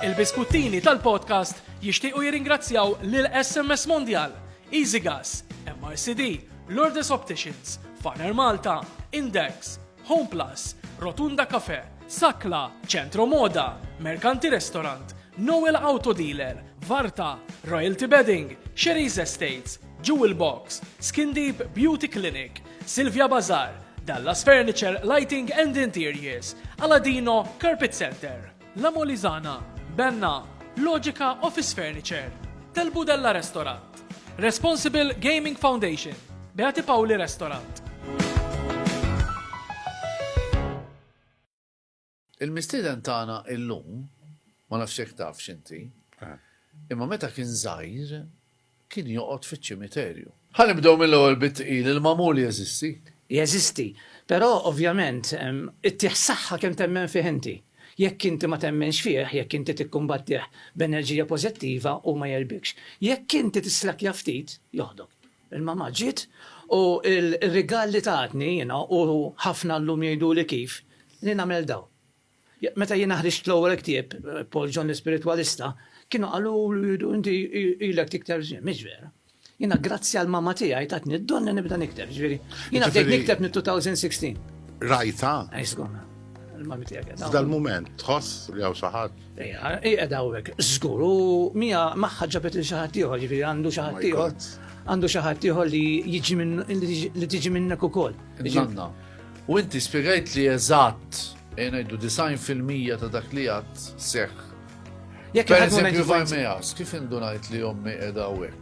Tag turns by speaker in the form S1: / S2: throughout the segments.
S1: Il-biskuttini tal-podcast jixtiequ jirringrazzjaw lil SMS Mondial, Easy Gas, MRCD, Lourdes Opticians, Farner Malta, Index, Home Plus, Rotunda Cafe, Sakla, Centro Moda, Mercanti Restaurant, Noel Auto Dealer, Varta, Royalty Bedding, Sherry's Estates, Jewel Box, Skin Deep Beauty Clinic, Silvia Bazar, Dallas Furniture, Lighting and Interiors, Aladino, Carpet Center, La Molizana, Benna, Logica Office Furniture, Tel Budella Restaurant, Responsible Gaming Foundation, Beati Pauli Restaurant. Il-mistieden tagħna illum, ma nafx jekk tafx inti, imma meta kien żgħir kien joqgħod fiċ-ċimiterju. Ħa nibdew mill-ewwel bit-tqil, il-magħmul jeżisti? Jeżisti, però ovvjament ittih saħħa kemm temmen fih inti. Jekk inti ma temminx fih, jekk inti tikkumbattih b'enerġija pożittiva hu ma jegħlbikx. Jekk inti tislakkja ftit, joħdok. Il-mamma ġiet u r-rigal li tatni jiena u ħafna llum jgħiduli kif li nagħmel daw. Meta jiena ħriġt l-ewwel ktieb, Paul John l-Ispiritwalista, kienu qaluli inti ilek tikteb żmien. Mhix vera. Jiena grazzi għal mamma tiegħi tatni d-don li nibda nikteb. Jiġifieri jiena bdejt nikteb mit-2016. Rajtha? F'dal-mument tħoss li hawn xi ħadd? Ejja, qiegħed hawnhekk, żgur, u mija magħha ġabet lil xi ħadd ieħor, jiġifieri għandu xi ħadd ieħor, għandu xi ħadd ieħor li jiġi minn li tiġi minnek ukoll. Nanna. U inti spjegajt li eżatt e ngħidu design fil-mija ta' dak li għad seħħ. Jekk per eżempju Varmejas, kif indunajt li ommi edha u hekk?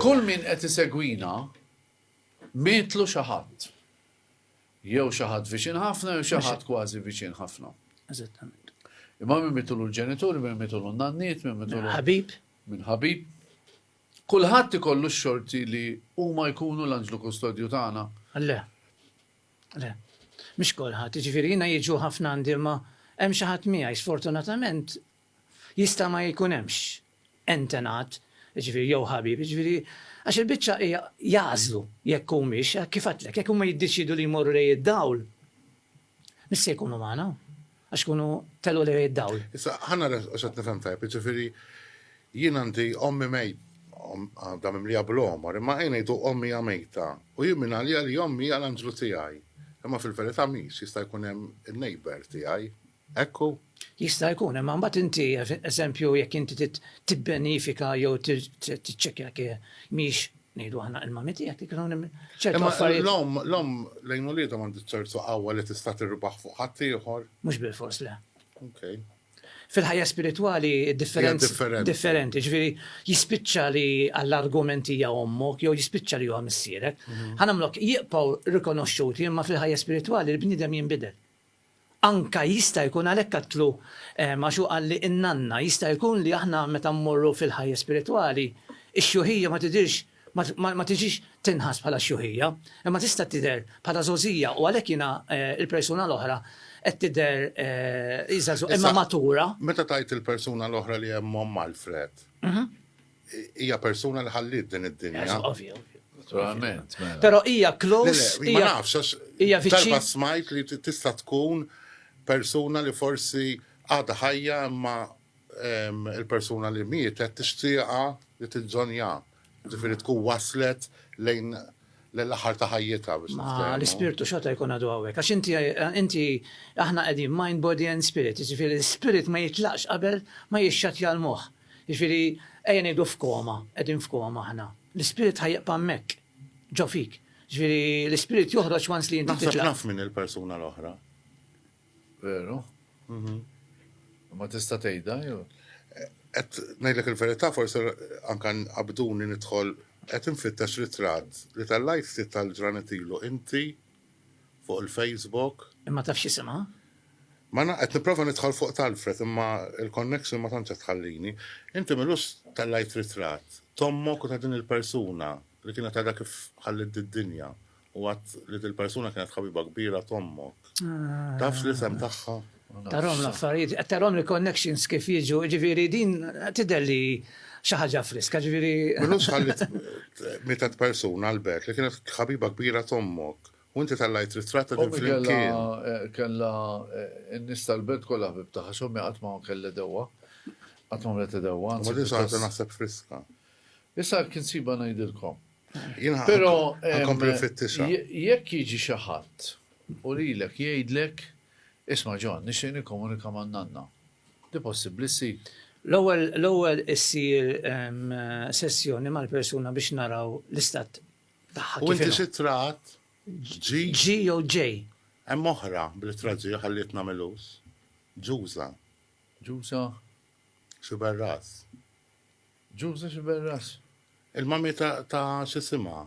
S1: Kull min qed isegwina mietlu xi ħadd. Jew xi ħadd viċin ħafna jew xi ħadd kważi viċin ħafna. Eżattament. Imma min mitulu l-ġenituri, min mitulu n-nanniet, min mitulu. Ħabib. Min ħabib. Kulħadd ikollu x-xorti li huma jkunu l-anġlu kustodju tagħna. Le. Le. Mhix kulħadd, jiġifieri jiena jiġu ħafna għandi ma hemm xi ħadd miegħi sfortunatament Jista' ma jkun hemmx entenat, jiġifieri jew ħabib, jiġifieri għax il-biċċa hija jagħżlu jekk humiex, kif għedtlek, jekk huma jiddeċiedu li jmorru lejn id-dawl, mhux se jkunu magħna, għax ikunu telgħu lejn id-dawl. Issa, ħa nara hekk qed nifhem tajjeb, jiġifieri jien għandi ommi mejt, għandha mimlija bl-għomor, imma ejja ngħidu ommi hija mejta, u jien minn għalija li ommi hija l-anġlu tiegħi. Imma fil-verità mhix, jista' jkun hemm in-neighbour tiegħi. Hekk hu. Jista' jkun, imma mbagħad inti, eżempju, jekk inti trid tibbenifika jew tiċċekkja jekk mhix ngħidu aħna il-mami tiegħek li kienu ċertu affarijiet. L-omm, l-omm lejn uliedha m'għandha ċertu qawwa li tista' tirbaħ fuq ħadd ieħor. Mhux bilfors le. Okay. Fil-ħajja spiritwali differenzi differenti, ġifieri jispiċċa li għall-argumenti hija ommok jew jispiċċa li huwa missierek. Mhm. Ħanamlok jibqgħu rikonoxxuti imma fil-ħajja spiritwali l-bniedem jinbidel. Anke jista' jkun għalhekk qatlu għax hu qal li n-nanna, jista' jkun li aħna meta mmorru fil-ħajja spiritwali, ix-xjuħija ma tidhirx ma tiġix tinħass bħala xjuħija, imma tista' tidher bħala żgħożija u għalhekk jiena l-persuna l-oħra qed tidher hi żagħżugħa imma matura. Meta tgħid il-persuna l-oħra li hemm omm Alfred, Hija persuna li ħalliet din id-dinja. Naturalment. Mela. Però hija close. Ma nafx, hija viċin. Darba smajt li tista' tkun persuna li forsi għadha ħajja imma il-persuna li mietet tixtieqa li tinġonja. Ġifieri tkun waslet lejn l-aħħar ta' ħajjitha biex L-ispirtu xorta jkun għadu għawek. Għax inti inti aħna qegħdin mind, body and spirit. Ġifieri l-spirit ma jitlaqx qabel ma jixxat jal-moħħ. Jiġifieri, ejja ngħidu f'koma, qegħdin f'koma aħna. L-ispirit ħa jibqa' hemmhekk, ġo fik. Jiġifieri, l-ispirit joħroġ once li inti titlaq. Naħseb naf min il-persuna l-oħra. Veru? Ma tista' tgħidha jew? Qed ngħidlek il-verità forsi anke qabduni nidħol qed infittex ritratt li tellajt ftit tal-ġranet ilu inti fuq il-Facebook. Imma taf x'isimha? Ma naf, qed nipprova nidħol fuq t'Alfred imma l-connection ma tantx qed tħallini. Inti m'ilux tellgħajt ritratt t'ommok u ta' din il-persuna li kienet għadha kif ħalliet did-dinja u għedt li dil-persuna kienet ħabiba kbira t'ommok. Tafx l-isem tagħha? Tarhom l-affarijiet, qed tarhom il-connections kif jiġu, ġifieri din tidher li xi ħaġa friska, ġifieri. Minux ħallit mietet persuna l-bert li kienet ħabiba kbira tommok. U inti tellajt ritratta din flimkien. Eh, kella eh, n-nies tal-belt kollha ħbib tagħha, x'ommi qatt ma kellha dewwa. Qatt ma mlet dewwa. Ma din saħta naħseb friska. Issa kien siba ngħidilkom. Però eh, jekk jiġi xi ħadd u lilek jgħidlek Isma' John, nixtieq nikkomunika man-nanna. Hi possibbli ssib? L-ewwel, l-ewwel issir sessjoni mal-persuna biex naraw l-istat tagħha kif inhu. U inti x'ittra għadt? G? G jew J? Hemm oħra bl-ittra G, ħallietna Milus. Ġuża. Ġuża? Xiberras. Ġuża Xiberras? Il-mami ta' x'isimha?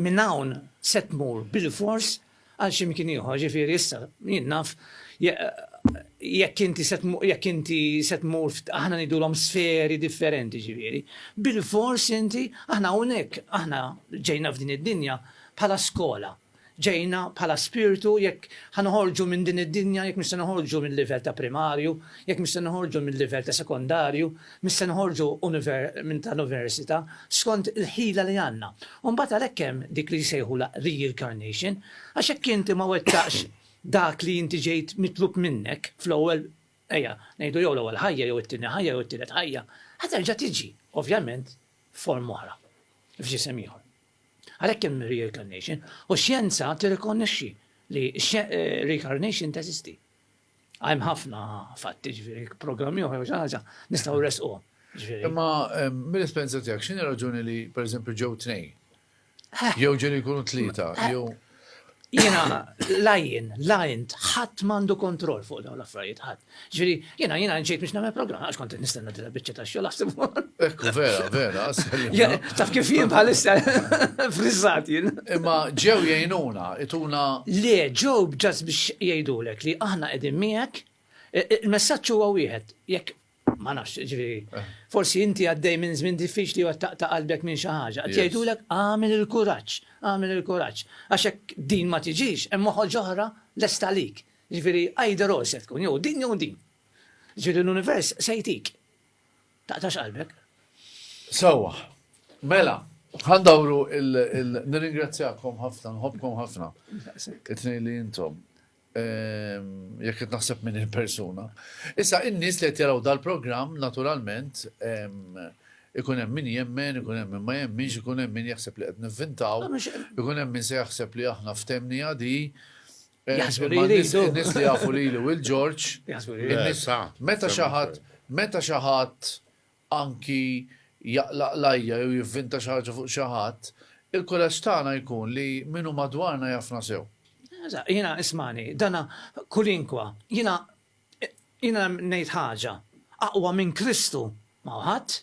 S1: Minn hawn se tmur bilfors għal xi mkien ieħor, jiġifieri issa jien naf jekk inti se jekk inti se tmur aħna ngħidulhom sferi differenti jiġifieri, bilfors inti aħna hawnhekk aħna ġejna f'din id-dinja bħala skola, ġejna bħala spirtu jekk ħa noħorġu minn din id-dinja, jekk mhux se noħorġu mil-livell ta' primarju, jekk mhux se noħorġu mil-livell ta' sekondarju, Mhux se noħorġu minn ta' universita' skont il-ħila li għandna. U mbagħad għalhekk hemm dik li jsejħulha reincarnation, għax jekk inti ma wettaqx dak li inti ġejt mitlub minnek fl-ewwel, ejja, ngħidu jew l-ewwel ħajja jew it-tieni ħajja jew it-tielet ħajja, ħa terġa' tiġi, ovvjament f'forma oħra, f'ġisem ieħor. Għalhekk hemm reincarnation, u x-xjenza tirrikonnexxi li reincarnation teżisti. Hemm ħafna fatti, ġifieri programmi oħra xi ħaġa nistgħu resquhom. Imma mill-esperjenza tiegħek x'inhi raġuni li pereżempju ġew tnejn? Jew ġew jkunu tlieta, jew Jiena lajn, lajn, ħadd m'għandu kontroll fuq dawn l-affarijiet ħadd. Ġifieri jiena jiena nġejt biex nagħmel programm għax kont nistenna Biċċa ta' xogħol aħseb. Ekku, vera, vera. Taf kif jien bħalissa frizzat jien. Imma ġew jgħinuna, ituna. Le, ġew ġas biex jgħidulek li aħna qegħdin miegħek. E, e, il-messaġġ huwa wieħed, jekk ma nafx, ġifieri, eh. forsi inti għaddej minn żmien diffiċli u ta' qalbek minn xi ħaġa. Qed jgħidulek għamel il-kuraġġ, għamel il-kuraġġ. Għax hekk din ma tiġix, hemm moħħol ġoħra lesta lik. Ġifieri, għajder se tkun, jew din jew din. Ġieli l-univers se jtik. Taqtax qalbek. Sewwa. Mela, ħandawru il nirringrazzjakom ħafna, nħobkom ħafna. It-tnejn li intom. Ehm, jekk qed naħseb minn il-persuna. Issa in-nies li qed jaraw dal-programm naturalment ehm, ikun hemm min jemmen, ikun hemm min ma jemminx, ikun hemm min jaħseb li qed nivvintaw, ikun hemm min se jaħseb li aħna ftemni għadi, Jaħsbu li jridu. Nis li jafu lili u l-Ġorġ. Jaħsbu li jridu. Meta xaħat, meta xaħat anki jaqlaq lajja jew jivvinta xaħġa fuq xaħat, il-kuraġġ tagħna jkun li minu madwarna jafna sew. Jina ismani, dana kulinkwa, jina jina ngħid ħaġa, aqwa minn Kristu ma hu ħadd.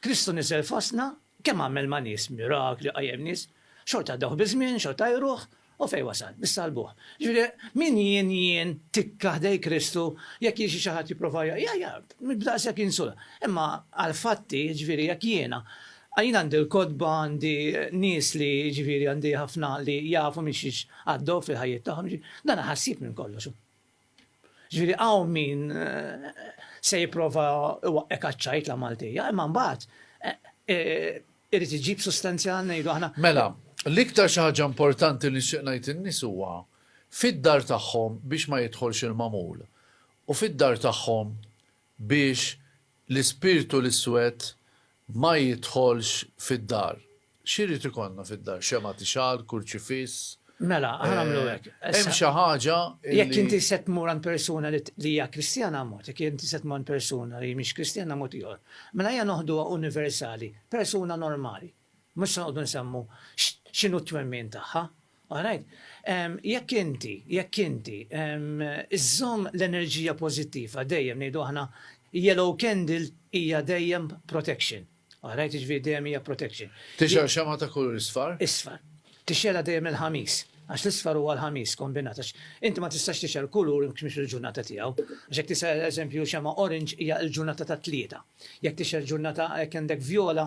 S1: Kristu niżel fostna, kemm għamel ma' nies, mirakli, qajjem nies, xorta għaddewh biż-żmien, xorta jruh, u fejn wasal? Biss salbuh. Jiġifieri, min jien, jien, tikka ħdejn Kristu, jekk jiġi xi ħadd jipprova jgħajjart, daqshekk jinsulta. Imma għall-fatti, jiġifieri jekk jiena, jiena għandi l-kotba, għandi nies li, jiġifieri għandi ħafna li jafu minn xiex għaddew fil-ħajjiet tagħhom, jiġifieri, dan ħassib minn kollox hu. Ġifieri hawn min se jipprova iwaqqek għaċ-ċajt la Maltija, imma mbagħad irid iġib sustanzja ngħidu aħna. Mela, l-iktar xi ħaġa importanti li nixtieq ngħid in-nies huwa fid-dar tagħhom biex ma jidħolx il-magħmul u fid-dar tagħhom biex l-ispirtu l-iswed ma jidħolx fid-dar. X'irid ikollna fid-dar? Xemgħa tixgħal, kurċifiss? Mela, aħna nagħmlu hekk. Hemm xi ħaġa li. Jekk inti se tmur għand persuna li hija Kristjana mod, jekk inti se tmur għand persuna li mhix Kristjana mod ieħor. Mela ejja noħduha universali, persuna normali. Mhux se noqogħdu nsemmu x'inhu t-twemmin tagħha. Alright? Jekk inti, jekk inti żżomm l-enerġija pożittiva dejjem ngħidu aħna yellow candle hija dejjem protection. Alright? Jiġifieri dejjem hija protection. Tixgħel xemgħa ta' kulur isfar? Isfar. Tixgħelha dejjem il-Ħamis. Għax l-isfar huwa l-Ħamis kombinat għax inti ma tistax tixgħel kulur jekk mhix il-ġurnata tiegħu. Għax jekk tixgħel eżempju xemgħa orange hija l-ġurnata tat-Tlieta. Jekk tixgħel ġurnata jekk għandek vjola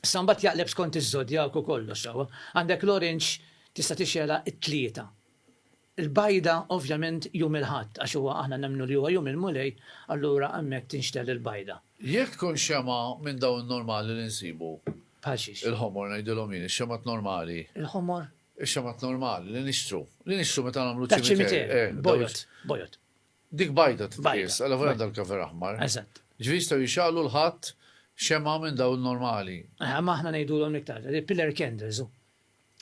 S1: Issa mbagħad jaqleb skont iż-żodjak u kollox sewwa. Għandek l-orange tista' tixgħelha t-Tlieta. Il-bajda ovvjament Jum il-Ħadd għax huwa aħna nemmnu li huwa Jum il-Mulej, allura hemmhekk tinxtegħel il-bajda. Jekk tkun xemgħa minn dawn normali li nsibu. Bħal xiex? Il-ħomor ngħidilhom jien, ix-xemgħat normali. Il-ħomor? Ix-xemgħat normali li nixtru. Li nixtru meta nagħmlu ċ-ċimiter. Taċ-ċimiter. Bojod. Bojod. Dik bajda titqies, għala volja għandha l-cover aħmar. Eżatt. Ġifieri jistgħu jixgħalu l-Ħadd xemgħa minn dawn normali. Aha, ma aħna ngħidulhom l-iktar, pillar candles hu.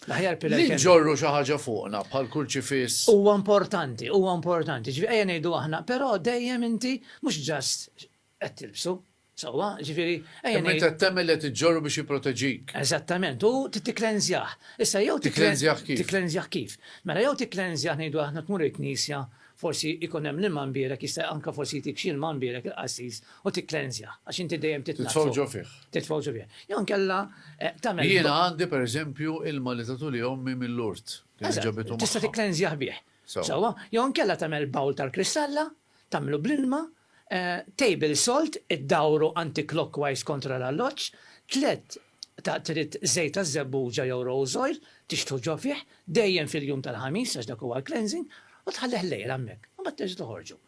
S1: L-aħjar pillar candles. Li ġorru xi ħaġa fuqna bħal kurċifiss. Huwa importanti, huwa importanti. Ġifieri ejja ngħidu aħna, però dejjem inti mhux ġast qed tilbsu, sewwa, jiġifieri ejja ngħidu. Imma int qed temmel li qed iġġorru biex jipproteġik. Eżattament, u tikklenżjah. Issa jew tikklenżjah kif? Tikklenżjah kif? Mela jew tikklenżjah ngħidu aħna tmur il-knisja, forsi jkun hemm l-ilma mbierek, jista' anke forsi jtik xi ilma mbierek il-qassis u tikklenżjah, għax inti dejjem titnaddfu. Titfgħu ġo fih. Titfgħu ġo fih. Jew inkella tagħmel. Jiena għandi pereżempju ilma li tatuli ommi mill-urt. Tista' tikklenżjah bih. Sewwa, jew inkella tagħmel bawl tal-kristalla, tagħmlu bl-ilma Table Salt, iddawru anti-clockwise kontra l-alloġġ, tliet ta' Trid żejt taż-żebbuġa jew rose oil, tixħtu ġo fih, dejjem fil-jum tal-Ħamis għax dak huwa l-cleansing, u tħallih lejl hemmhekk, imbagħad terġa' toħorġu.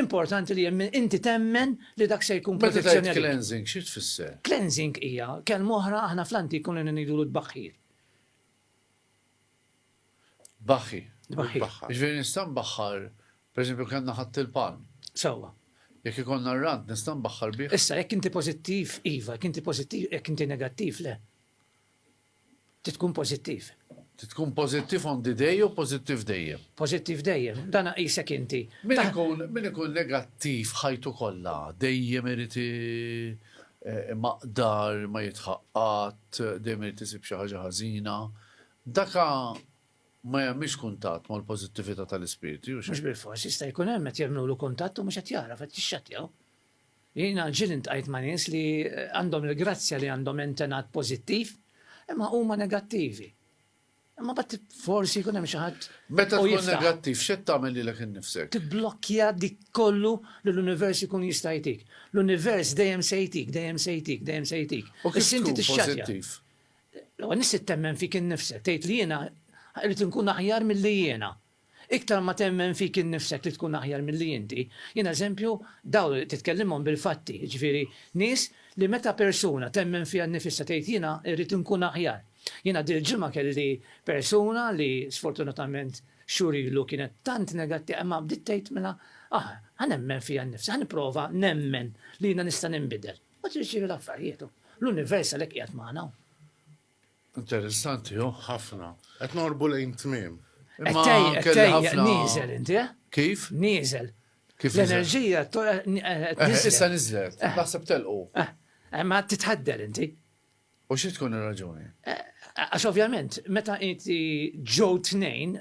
S1: Importanti li inti temmen li dak se jkun protezzjoni għalik. Meta tgħid cleansing, xi tfisser? Cleansing hija kelma oħra aħna fl-antik konna ngħidulu tbaħħir. Tbaħħi. Tbaħħi. Jiġifieri nista' nbaħħar, pereżempju kellna ħadd il-pan. Sewwa. Jekk ikollna r-rant nista' nbaħħar bih? Issa jekk inti pożittiv iva, jekk inti pożittiv, jekk inti negattiv le. Trid tkun pożittiv. Trid tkun pożittiv on the day jew pożittiv dejjem? Pożittiv dejjem, dan aqisek inti. Min ikun negattiv ħajtu kollha dejjem irid Imaqdar, ma jidħaq qatt, dejjem irid isib xi ħaġa ħażina. Daka ma jagħmilx kuntatt mal-pożittività tal-ispirti, u x'hekk? Mhux bilfors, jista' jkun hemm qed jagħmlulu kuntatt u mhux qed jagħraf, qed jixxattjaw. Jiena ġieli ltqajt ma' nies li għandhom il-grazzja li għandhom intenat pożittiv, imma huma negattivi. Imma bat forsi jkun hemm xi ħadd. Meta tkun negattiv, x'qed tagħmel lilek innifsek? Tiblokkja dik kollu li l-univers ikun jista' jtik. L-univers dejjem se jtik, dejjem se jtik, dejjem se jtik. U kif tkun pożittiv? L-ewwel nett temmen fik innifsek, tgħid li jiena irrid inkun aħjar milli jiena. Iktar ma temmen fik innifsek li tkun aħjar milli inti, jien eżempju dawl titkellimhom bil-fatti, jiġifieri nies li meta persuna temmen fiha nnifisha tgħid jiena rrid inkun aħjar. Jiena dil-ġimgħa kelli persuna li sfortunatament xhur ilu kienet tant negattiva imma bdiet tgħid mela aħ ħa nemmen fija nnifsi, ħa nipprova nemmen li jiena nista' ninbidel. Mbagħad irid isiru l-affarijiet u l-univers għalhekk qiegħed magħna. Interessanti, oh, ħafna. Qed norbu lejn tmiem. Imma kelli ħafna. Nieżel inti, eh? Kif? Nieżel. Kif l-enerġija tista' niżlet. Naħseb telqu. Ma titħaddel inti. U xi tkun ir-raġuni? Għax ovvjament, meta inti ġew tnejn,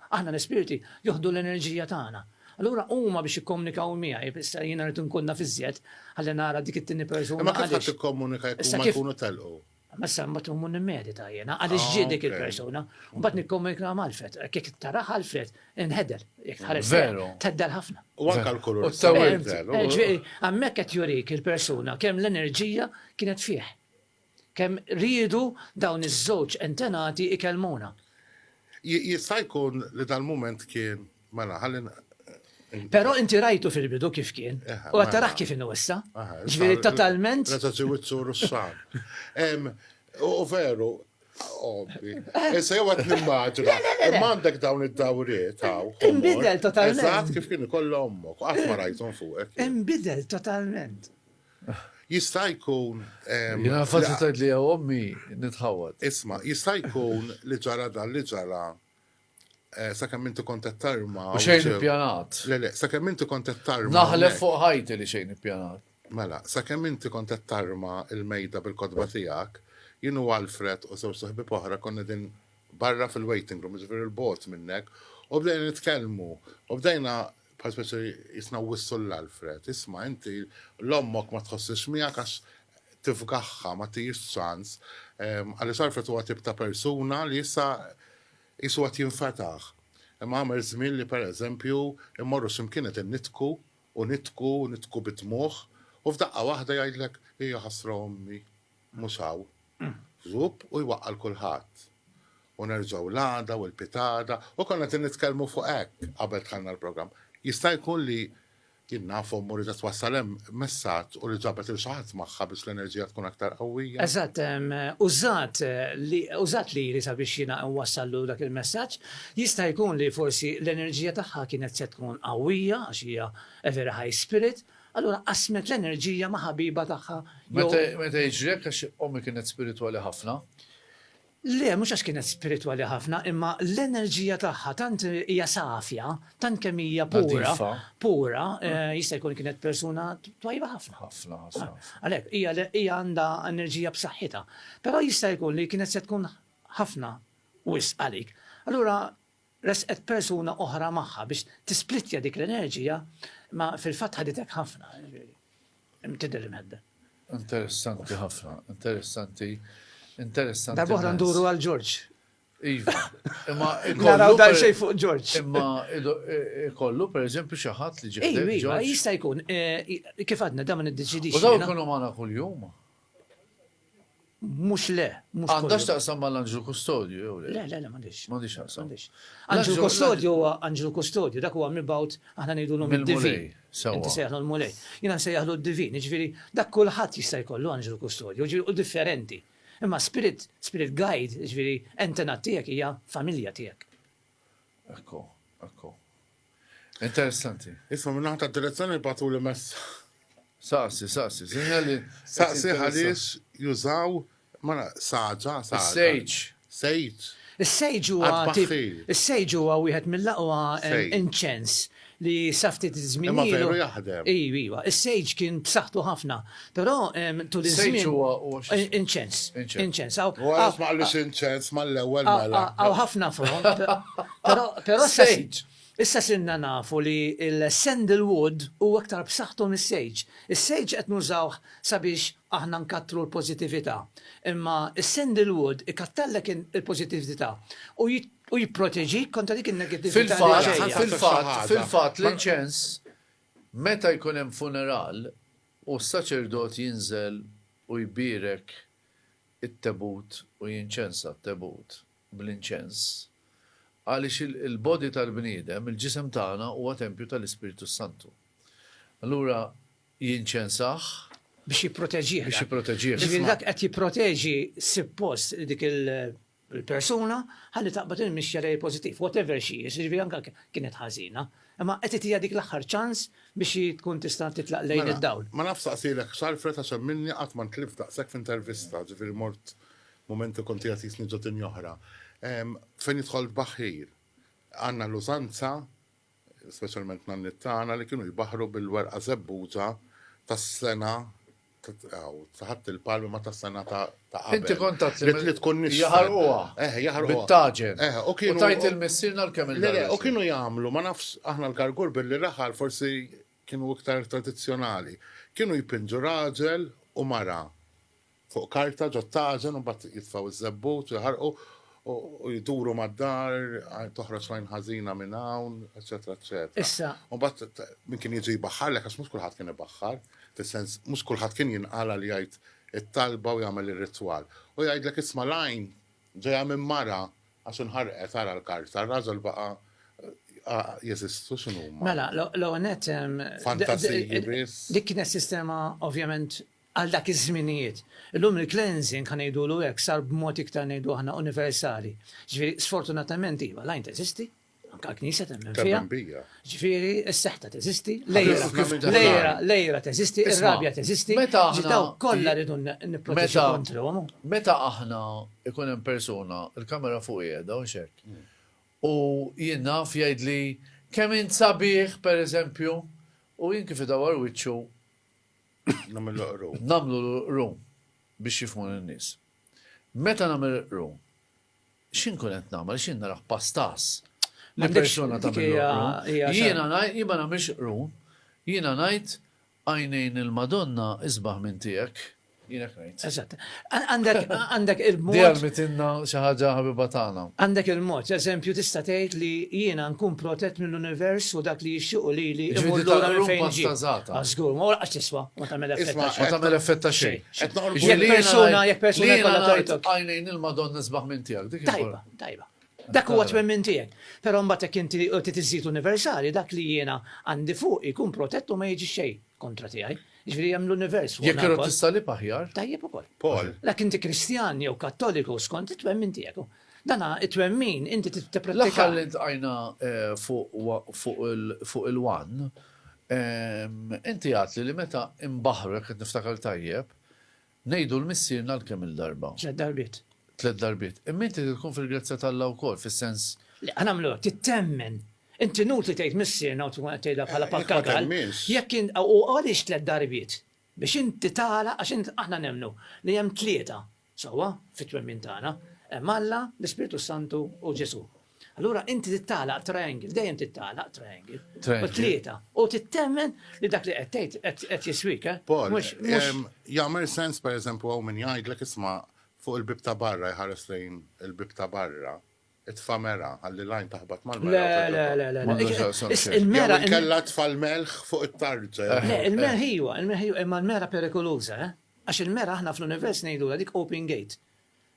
S1: Aħna l-ispirti joħdu l-enerġija tagħna. Allura huma biex jikkomunikaw miegħi, issa jiena rrid inkun naf iżjed ħalli nara dik it-tieni persuna. Imma kif ħadd tikkomunika jekk huma jkunu telqu? Ma issa mbagħad imur nimmedita jiena għaliex ġiet dik il-persuna. Mbagħad nikkomunika ma' Alfred, jekk taraha Alfred inħedel, jekk tħares veru theddel ħafna. U anke l-kulur. Hemmhekk qed jurik il-persuna kemm l-enerġija kienet fih. Kemm riedu dawn iż-żewġ antenati ikellmuna. Jista' jkun li dal-mument kien, mela, ħalli. Però inti rajtu fil-bidu kif kien, u qed tarah kif inhu issa. Jiġifieri totalment. Meta ġew it-turu s-sar. U veru, ovvi. Issa jew qed nimmaġina, imma għandek dawn id-dawriet hawn. Inbidel totalment. Eżatt kif kien ikollha ommok, qatt ma rajthom fuqek. Inbidel totalment. Jista' jkun. Jiena faċli tgħid li hija ommi nitħawwad. Isma', jista' jkun li ġara dan li ġara sakemm inti kont qed tarma. U xejn ippjanat. Le le, sakemm inti kont qed tarma. Naħlef fuq ħajti li xejn ippjanat. Mela, sakemm inti kont qed tarma l-mejda bil-kotba tiegħek, jien u Alfred u żewġt ħbieb oħra konna qegħdin barra fil-waiting room, jiġifieri 'l bogħod minnek, u bdejna nitkellmu, u bdejna Bħal speċi jisna whistle l-Alfred, isma' inti l ommok ma tħossiex miegħek għax tifgaħha, ma tihiex ċans, għaliex Alfred huwa tip ta' persuna li issa qisu qed jinfetaħ. Imma għamel żmien li per eżempju mmorru xi mkien qegħdin nidhku u nidhku, nidhku bid-dmugħ u f'daqqa waħda jgħidlek, Ija ħasra ommi. Mhux hawn. Żhupp u jwaqqa' 'l kulħadd. U nerġgħu l-għada u l-pitada u konna qed nitkellmu fuq hekk qabel dħalna l-programm. Jista' jkun li, jien naf ommu riedet twassal hemm messaġġ u li ġabet lil xi ħadd magħha biex l-enerġija tkun aktar qawwija. Eżatt, użat li, użat lili sabiex jiena nwassallu dak il-messaġġ. Jista' jkun li forsi l-enerġija tagħha kienet se tkun qawwija għax hija a very high spirit. Allura qasmet l-enerġija ma' ħabiba tagħha jew. Meta jiġri hekk għax ommi kienet spiritwali ħafna? Le, mhux għax kienet spiritwali ħafna, imma l-enerġija tagħha tant hija safja, tant kemm hija pura, pura, jista' jkun kienet persuna twajba ħafna. Ħafna, ħafna. Għalhekk, hija għandha enerġija b'saħħitha. Però jista' jkun li kienet se tkun ħafna wisq għalik. Allura Ressqet persuna oħra magħha biex tisplittja dik l-enerġija imma fil-fatt ħaditek ħafna, jiġifieri hemm tidher imhedden. Interessanti ħafna, interessanti, interessanti. Darba oħra nduru għal Ġorġ. Iva, imma naraw dan xejn fuq Ġorġ. Imma ikollu e, e, pereżempju xi ħadd li ġejjin. Iva, iva jista' jkun e, kif għadna da ma niddeċidix. U dawn ikunu magħna kuljum. Mhux le, mhux. Għandha x'taqsam mal-anġlu kustodju jew le? Le, le, le m'għandhiex. M'għandhiex x'taqsam. Anġlu kustodju huwa anġlu kustodju, dak huwa mibgħut aħna ngħidulhom id-divin. Inti sejjaħlu l-Mulej. Jiena nsejjaħlu d-divin, jiġifieri dak kulħadd jista' jkollu anġlu kustodju, jiġifieri hu differenti. Imma spirit, spirit guide, jiġifieri entità tiegħek hija familja tiegħek. Ekku, ekku. Interessanti. Isma minn naħta direzzjoni batu li messa. Saqsi, saqsi, sinjali. Saqsi għaliex jużaw mara saġa, saġa. Sejġ. Sejġ. Is-sejġ huwa is-sejġ huwa wieħed mill-aqwa inċens li saftit żmien. Ma veru jaħdem. Iva, iva. Is-sejġ kien b'saħħtu ħafna. Però tul iż-żmien. Sage huwa huwa. Inċens. Inċens. Wara ma qallux inċens mal-ewwel mela. Hawn ħafna front. Però però sage. Issa sinna nafu li l-sandalwood huwa aktar b'saħħtu mis-sage. Is-sage qed nużawh sabiex aħna nkattru l-pożittività. Imma s-sandalwood ikattarlek il-pożittività u u jipproteġik kontra dik in-negattività. Fil-fatt, fil-fatt, fil-fatt l-inċens meta jkun hemm funeral U s-saċerdot jinżel u jbierek it-tebut u jinċensa t-tebut bl-inċens, għaliex il-body tal-bniedem, il-ġisem tagħna, huwa tempju tal-Ispirtu s-Santu. Allura jinċensah. Biex jipproteġih. Biex jipproteġih. Ġifieri dak qed jipproteġi, suppost, dik il-. il-persuna ħalli taqbad il-mixja lejn il-pożittiv, whatever she is, jiġifieri anke jekk kienet ħażina, imma qed titiha dik l-aħħar ċans biex hi tkun tista' titlaq lejn id-dawl. Mela, ma nafx saqsilek x'għarrfet għax hemm minni qatt ma ntlift daqshekk f'intervista, ġifieri mort mument li kont qiegħed jisni ġo dinja oħra. Fejn jidħol tbaħħir, għandna l-użanza speċjalment nanniet tagħna li kienu jbaħħru bil-werqa żebbuġa tas-sena ta' ħadd il-palmi ma ta' sena ta' qabel. Inti kont tazzi. Li tkun nix. Jaħarquha. Eh, jaħarquha. Bit-taġen. Eh, u kienu. Tajt il-missirna l-kemm il U kienu jagħmlu, ma nafx aħna l-kargur billi raħal forsi kienu iktar tradizzjonali. Kienu jpinġu raġel u mara. fuq karta ġot-tażen u mbagħad jitfgħu ż-żebbut u jaħarqu u jduru mad-dar, toħroġ lajn ħażina minn hawn, eċetera, eċetera. Issa. U mbagħad min kien jiġi jbaħħarlek għax mhux kulħadd kien ibaħħar, fis-sens mhux kulħadd kien jinqala li jgħid it-talba u jagħmel ir-ritwal. U jgħidlek isma' l-għajn ġejja minn mara għax inħarqet ara l-karta, r-raġel baqa' jeżistu x'inhuma. Mela, l-ewwel nett. Fantasiji biss. Dik kienet sistema ovvjament għal dak iż-żminijiet. Illum il-cleansing, ħa ngħidulu hekk, sar b'mod iktar ngħidu aħna universali. Ġifieri, sfortunatament iva, l-għajn teżisti, anke l-Knisja temmen fiha. Temmen bija. Ġifieri, s-seħta teżisti, l-għira, l-għira, l-għira teżisti, Isma', ir-rabja teżisti. meta Ġi aħna- dawk kollha rridu n- nipproteġu Meta- kontrihom. Meta aħna ikun hemm persuna, il-kamera fuq qiegħda u xek. U jien naf jgħidli kemm int sabiħ pereżempju, u jien kif idawwar wiċċu Namlu l-rum biex jifmu l-nis. Meta namlu l-rum, xin kunet namel, xin naraħ pastas. Li persona ta' Jiena najt, jiba namilx rum, jiena najt għajnejn il-Madonna isbaħ minn tijek. Jiena Eżatt. Għandek għandek il-mod. Dejjem mitinna xi ħaġa ħabiba tagħna. Għandek il-mod, eżempju tista' tgħid li jiena nkun protett mill-univers u dak li jixtiequ li li imur lura minn fejn ġi. Żgur, ma għax tiswa, ma tagħmel effett. Ma tagħmel effett ta' xejn. Qed noqgħod jekk persuna jekk persuna kollha tajtok. Għajnejn il-Madonna sbaħ minn tiegħek. Tajba, tajba. Dak huwa twemmin tiegħek. Però mbagħad jekk inti titiżżid universali, dak li jiena għandi fuq ikun protett u ma jiġi xejn. kontra tiegħi. Ġifieri hemm l-univers fuq. Jekk irod tissalib aħjar. Tajjeb ukoll. Paul. Lek inti Kristjan jew Kattoliku skont it-twemmin tiegħek. Dana it-twemmin inti tippretika. L-aħħar li tqajna eh, fuq il-wan, ehm, inti għatli li meta imbaħru jekk niftakar tajjeb, Ngħidu 'l Missierna 'l kemm-il darba? Tliet darbiet. Tliet darbiet. Imma inti trid tkun fil-grazzja t'Alla wkoll, fis-sens. Le, ħa nagħmlu hekk, trid temmen. Inti inutli tgħid Missierna u tkun qed tgħidha bħala pappagall. Jekk int, u għaliex tliet darbiet? Biex inti tara, għax int, aħna nemmnu li hemm tlieta, sewwa, fit-twemmin tagħna. Hemm Alla, l-Ispirtu s-Santu u Ġesù. Allura inti tittalaq triangle, dejjem tittalaq triangle. U tlieta. U tittemmen li dak li qed tgħid qed jiswik, eh? Paul, jagħmel sens pereżempju hawn min jgħidlek isma' fuq il-bib ta' barra jħares lejn il-bib ta' barra it-famera, għalli lajn taħbat mal-mera. Le, le, le, le. Il-mera. Kella tfal melħ fuq it-tarġa. Le, il-mera ħiwa, il-mera ħiwa, imma l-mera perikoluza, eh? Għax il-mera ħna fl-univers nejdu dik open gate.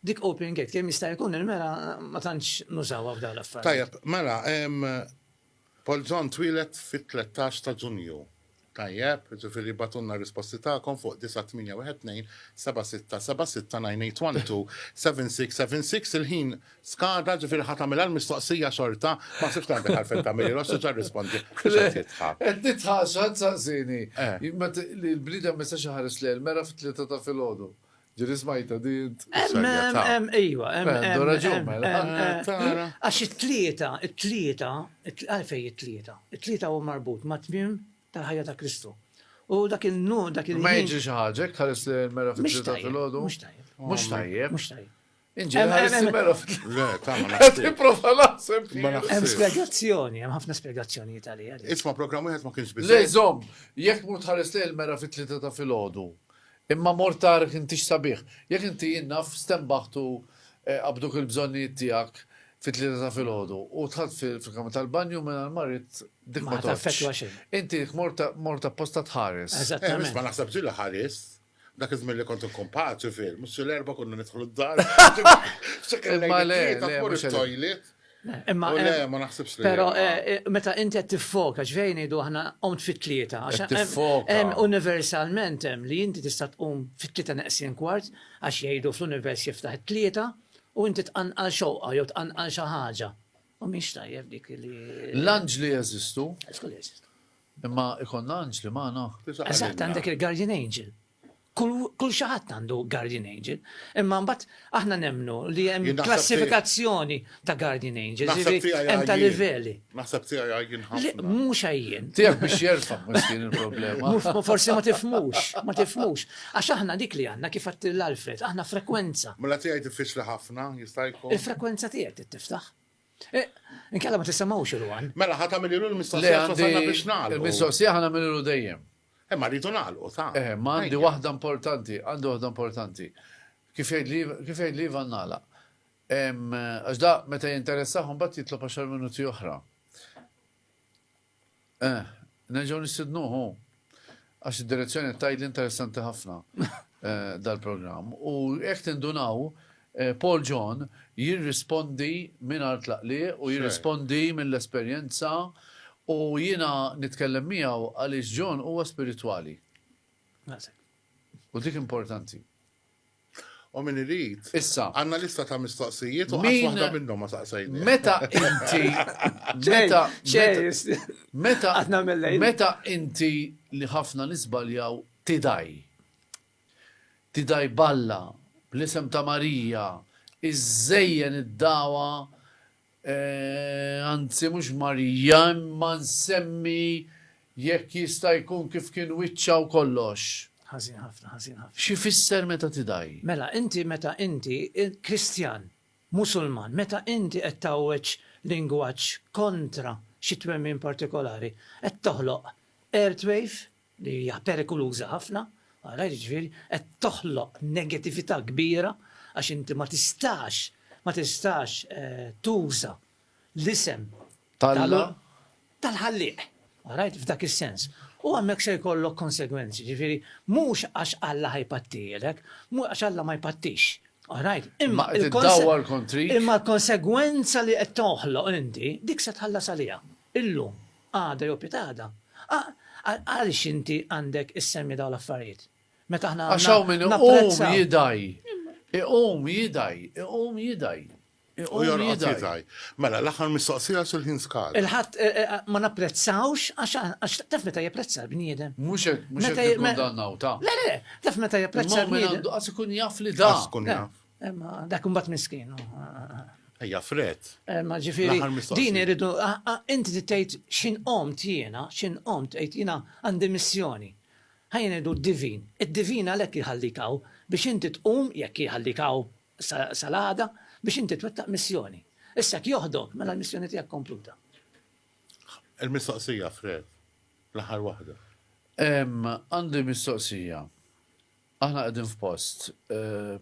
S1: Dik open gate kemm jista' jkun il-mera ma tantx nużawha f'dawn l-affarijiet. Tajjeb, mela Polzon twieled fit-tlettax ta' Ġunju. Tajjeb, ġifieri bagħtulna r-risposti tagħkom fuq 981276796812676 il-ħin skada ġifieri ħa tagħmilha l-mistoqsija xorta, ma nsibx li għandek għalfejn tagħmilhi rush diġà rrispondi. Mhux qed jidħak. Qed nidħaq x'ħadd saqsieni li l-bniedem ma jistax iħares lejn mera fit-tlieta ta' filgħodu. Ġiri smajta di int. Iwa, għandu raġun, mela. Għax it-tlieta, it-tlieta, għalfej it-tlieta. It-tlieta u marbut ma' tmim tal-ħajja ta' Kristu. U dak il-nu, dak il-nu. Ma jġi xaħġek, ħares li mera fit-tlieta fil-ħodu. Mux tajjeb. Mux tajjeb. Mux tajjeb. Le, ta' ma naħseb. Ma naħseb. Hemm spjegazzjoni, hemm ħafna spjegazzjoni għalija. Isma' programm wieħed ma kienx biżejjed. Le żomm, jekk mur tħares lejn il-mera fit-tlieta ta' filgħodu. Imma mor tarek intix sabiħ. Jekk inti jinnaf stembaħtu qabduk il-bżonnijiet tiegħek fit-tlieta ta' filgħodu u tħadd fil-kamra tal-banju minn għal-marit dik ma tafx. Inti mor ta' posta tħares. Eżatt. Ma naħseb ġilla ħares. Dak iż-żmien li kont inkun paċi fil, mhux l-erba' konna nidħlu d-dar. Imma le, tmur it-toilet. Imma le, eh, ma naħsibx li. Però eh, eh, meta inti qed tiffoka, ġvejn ngħidu aħna qomt fit-tlieta. Hemm universalment hemm li inti tista' tqum fit-tlieta neqsin kwart għax jgħidu fl-univers jiftaħ it-tlieta u inti tqanqal xewqa jew tqanqal xi ħaġa. U mhix tajjeb dik li. L-anġli jeżistu. Skull jeżistu. Imma ikollna anġli magħna? Eżatt, għandek il-guardian angel. Kull xi ħadd għandu guardian angel. Imma mbagħad aħna nemmnu li hemm klassifikazzjoni ta' guardian angel. Hemm ta' livelli. Naħseb tiegħi għajjin ħafna. Mhux għajjin. Tiegħek biex jerfa' mhux din il-problema. Forsi ma tifmux, ma tifmux. Għax aħna dik li għandna kif għattil Alfred, aħna frekwenza. Mela tiegħi diffiċli ħafna, jista' jkun. Il-frekwenza tiegħek tiftaħ. Eh, inkella ma tissemgħux il-wan. Mela ħa tagħmililu l-mistoqsija wasalna biex nagħlqu. Il-mistoqsija ħa nagħmililu dejjem. Eh, ma rridu nagħlqu ta'. Eh, ma għandi waħda importanti, għandi waħda importanti. Kif jgħid li Ivan nagħlaq? Għax da meta jinteressahom bat jitlob 10 minuti oħra. Eh, nerġgħu nistidnuh hu. Għax id-direzzjoni qed tgħidli interessanti ħafna eh, dal-programm. U jekk tindunaw, eh, Paul John jirrispondi minn art laqli u jirrispondi mill-esperjenza u jiena nitkellem miegħu għaliex John huwa spiritwali. U dik importanti. U min irid. Issa. Għandna lista ta' mistoqsijiet u qatt waħda minnhom ma saqsejni. Meta inti. Meta. Meta. Meta inti li ħafna nisbaljaw tidaj. Tidaj balla, bl-isem ta' Marija, iżżejjen id-dawa anzi mhux Marija, imma nsemmi jekk jista' jkun kif kien wiċċha u kollox. Ħażin ħafna, ħażin ħafna. X'ifisser meta tidgħi? Mela, inti meta inti Kristjan, Musulman, meta inti qed tgħawweġ lingwaġġ kontra xi twemmin partikolari, qed toħloq airtwave li hija perikoluża ħafna, ara, jiġifieri qed toħloq negatività kbira għax inti ma tistax, ma tistax tuża l-isem tal-, tal-Ħallieq, għarajt, f'dak is-sens. U hemmhekk se jkollok konsegwenzi, jiġifieri mhux għax Alla ħa jpattilek, mhux għax Alla ma jpattix, għarajt, imma l-, Qed iddawwar kontrik. Imma l-konsegwenza li qed toħloq inti, dik se tħallas għaliha, illum. Għada jew pitgħada. Għaliex inti għandek issemmi dawn l-affarijiet? Meta aħna għandna. Għax hawn min iqum jidgħi. Iqum jidgħi, iqum jidgħi. U jorqod jidgħi. Mela, l-aħħar mistoqsija għax il-ħin skada. Il-ħadd ma napprezzawx għax taf meta japprezza l-bniedem. Mhux hekk, mhux hekk ikun dan nawta. Le, le, taf meta japprezza l-bniedem. Għax ikun jaf li da. Għax ikun jaf. Imma dak imbagħad miskin. Ejja fred. Imma ġifieri din iridu inti tgħid x'in qomt jiena, x'in qomt tgħid jiena għandi missjoni. Ħajja ngħidu divin. Id-divin għalhekk jħallik hawn biex inti tqum jekk jħallik hawn sal-għada biex inti twettaq missjoni. Issa jekk joħdok mela l-missjoni tiegħek kompluta. Il-mistoqsija fred, l-aħħar waħda. Għandi mistoqsija. Aħna qegħdin f'post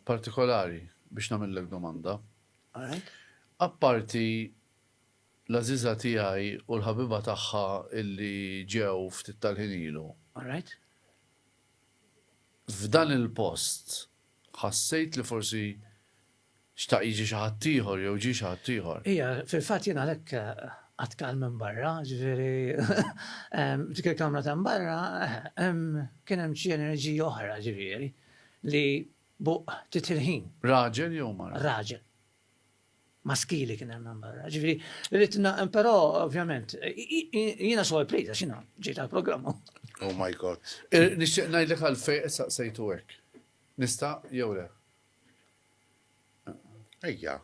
S1: partikolari biex nagħmillek domanda. Apparti l-għażiża tiegħi u l-ħabiba tagħha illi ġew ftit tal-ħin ilu. F'dan il-post ħassejt li forsi Xtaq jiġi xi ħadd ieħor jew ġie xi ħadd ieħor. Ija, fil-fatt jien għalhekk qatt kal minn barra, ġifieri f'dik il-kamra ta' mbarra kien hemm xi enerġija oħra ġifieri li buq ftit il-ħin. Raġel jew mara? Raġel. Maskili kien hemm minn barra. Ġifieri rrid però ovvjament jiena sorpriża x'inha ġejt għall-programm. Oh my God. Nixtieq ngħidlek għalfejn qed saqsejtu hekk. Nista' jew le? Ejja.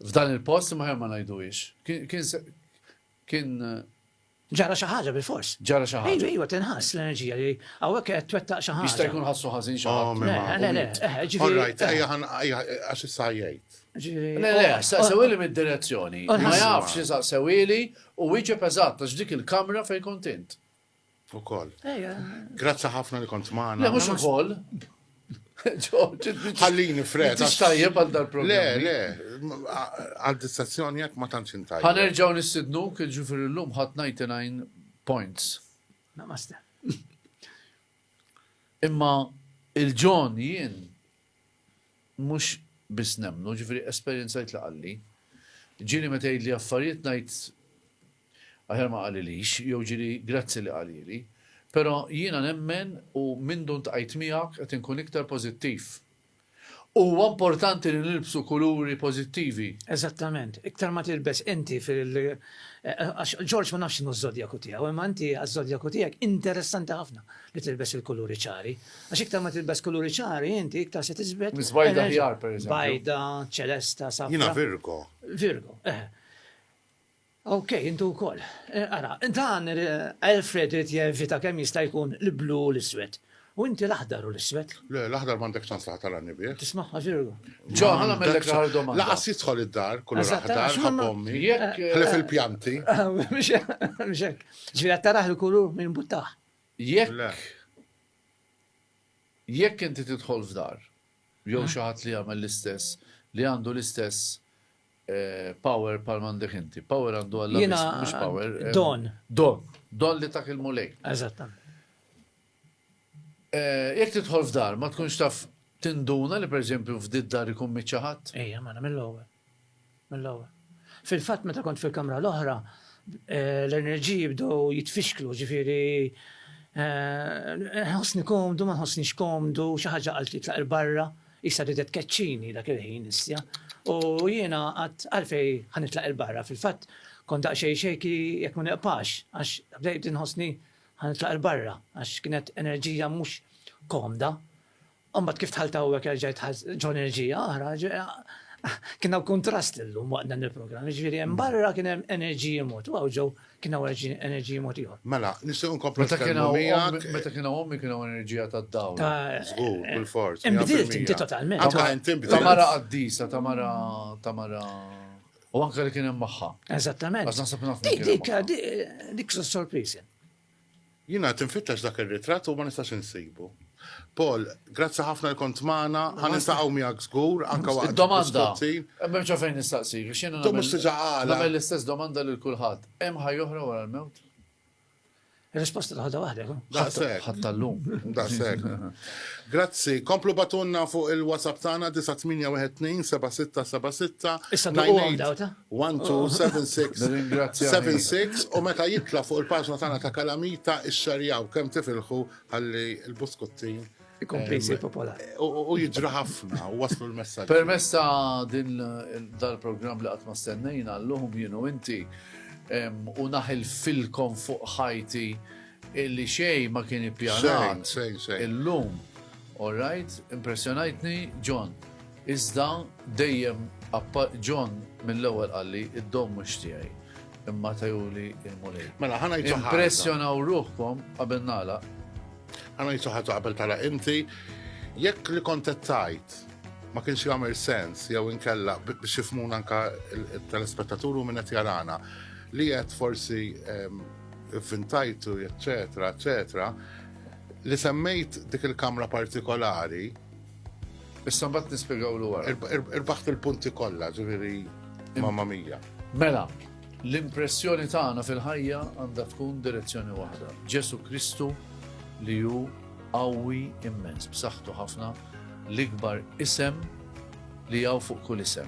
S1: F'dan il-post imma ħer ma ngħiduhiex. Kien kien Ġara xi ħaġa bil-fors. Ġara xi ħaġa. Iva, iva, tinħass l-enerġija li hawnhekk qed twettaq xi ħaġa. Jista' jkun ħassu ħażin xi oh, ħaġa. Le, le, eh, ġifieri. All right, ejja għax issa jgħid. Le, le, oh, saqsewili oh. mid-direzzjoni. Ma jafx li saqsewili u wieġeb eżatt għax dik il-kamra fejn kont int. Ukoll. Grazzi ħafna li kont magħna. Le mhux ukoll. Ħallini fred. Għax tajjeb għal dal-programm. Le, le, għal distazzjoni jekk ma tantx intajjeb. Ħanerġgħu nistidnu kien ġifier illum ħadd 99 points. Namaste. Imma il-ġon jien mhux biss nemmnu, jiġifieri esperjenzajt li qalli. Ġieli meta jgħidli affarijiet ngħid aħjar ma qalilix jew ġieli grazzi li qalieli. Però jiena nemmen u mindu ntqajt miegħek qed inkun iktar pożittiv. Huwa importanti li nilbsu kuluri pożittivi. Eżattament. Iktar ma tilbes inti fil għax George ma nafx x'inhu ż-żodjaku tiegħu, imma inti għaż-żodjaku tiegħek interessanti ħafna li tilbes il-kuluri ċari. Għax iktar ma tilbes kuluri ċari inti iktar se tiżbed. Miżbajda ħjar pereżempju. Bajda, ċelesta, safra. Jiena Virgo. Virgo, eh. Ok, intu wkoll. Eh, ara, dan eh, Alfred irid jevita kemm jista' jkun l-blu u l-iswed. U inti l-aħdar u l-iswed. Le, l-aħdar m'għandek ċans li ħatar għanni bih. Tismaħħa ġirgu. Ġo, ħana mellek l domanda. Laqas jidħol id-dar, kullu l-aħdar, ħabommi. Jekk. Eh, Ħlef il-pjanti. Mxek. Ġvira taraħ il-kulur minn buttaħ. Jekk jekk inti tidħol f'dar jew xi ħadd li jagħmel l-istess li għandu l-istess power bħal m'għandek inti. Power għandu għalla mhux power. Don. Don. Don li tak il-mulej. Eżattament. Jekk tidħol f'dar ma tkunx taf tinduna li pereżempju f'did dar ikun miċċaħat. Ejja, ma nagħmel l-ewwel. mill-ewwel. Fil-fatt meta kont fil-kamra l-oħra, l-enerġiji bdew jitfixklu, ġifieri nħossni komdu, ma nħossnix komdu, xi ħaġa qaltli titlaq il-barra, qisha ridet tkeċċini dak il-ħin issja. U jiena qatt għalfej ħa nitlaq il-barra, fil-fatt kont daqsxejn shaky jekk ma niqpax, għax bdejt inħossni ħa nitlaq il-barra, għax kienet enerġija mhux komda. U mbagħad kif dħalt hawnhekk erġajt ħadd ġo enerġija oħra, kien hawn kuntrast illum waqt dan il-programm, jiġifieri hemm barra kien hemm enerġiji mod, u hawn ġew kien hawn enerġiji mod ieħor. Mela, nistgħu nkomplu nitkellmu miegħek. Meta kien hawn ommi kien hawn enerġija tad-dawl. Żgur, bil-forz. Inbdilt inti totalment. Anke int inbdilt. Ta' mara qaddisa, ta' mara ta' mara. U anke li kien hemm magħha. Eżattament. Għax naħseb naf. Dik dik dik sorpriżi. Jiena qed infittex dak ir-ritratt u ma nistax insibu. Paul, grazzi ħafna li kont magħna, ħa niltaqgħu miegħek żgur, anke waqt il-biskutti. Id-domanda, m'hemmx għalfejn nistaqsik, għax jiena nagħmel l-istess domanda lil kulħadd, hemm ħajja oħra wara l-mewt? Ir-risposta taħodha waħdek. Daqshekk. Ħadd tal-lum. Daqshekk. Grazzi. Komplu batunna fuq il-WhatsApp tagħna 9812 7676. Issa ngħid. 127676 u meta jitla' fuq il-paġna tagħna ta' Kalamita ixxerjaw kemm tifilħu ħalli l-buskuttin ikompli jsir popolari. U jiġri ħafna u waslu l-messaġġ. Permezz ta' din dal-programm li qatt ma stennejna llum jienu inti u naħil filkom fuq ħajti illi xej ma kien ippjanat. Illum, all right, impressjonajtni John. Iżda dejjem John mill-ewwel qalli id-dom mhux tiegħi imma tajuli il-Mulej. Mela ħana jtuħa. Impressjonaw ruħkom qabel nala. Ħana jtuħa qabel tala inti jekk li kontettajt ma kienx jagħmel sens jew inkella biex jifmun anka il-telespettaturu minn qed jarana li qed forsi ehm, fintajtu, eccetera, eccetera, li semmejt dik il-kamra partikolari Issa mbagħad nispjegaw l wara. Irbaħt il-punti kollha, ġifieri mamma mija. Mela, l-impressjoni tagħna fil-ħajja għandha tkun direzzjoni waħda. Ġesu Kristu li hu qawwi immens, b'saħħtu ħafna, l-ikbar isem li jaw fuq kull isem.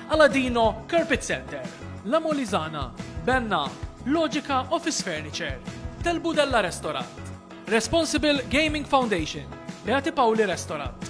S1: Aladino Carpet Center, La Molisana, Benna, Logica Office Furniture, Del Budella Restaurant, Responsible Gaming Foundation, Beati Pauli Restaurant.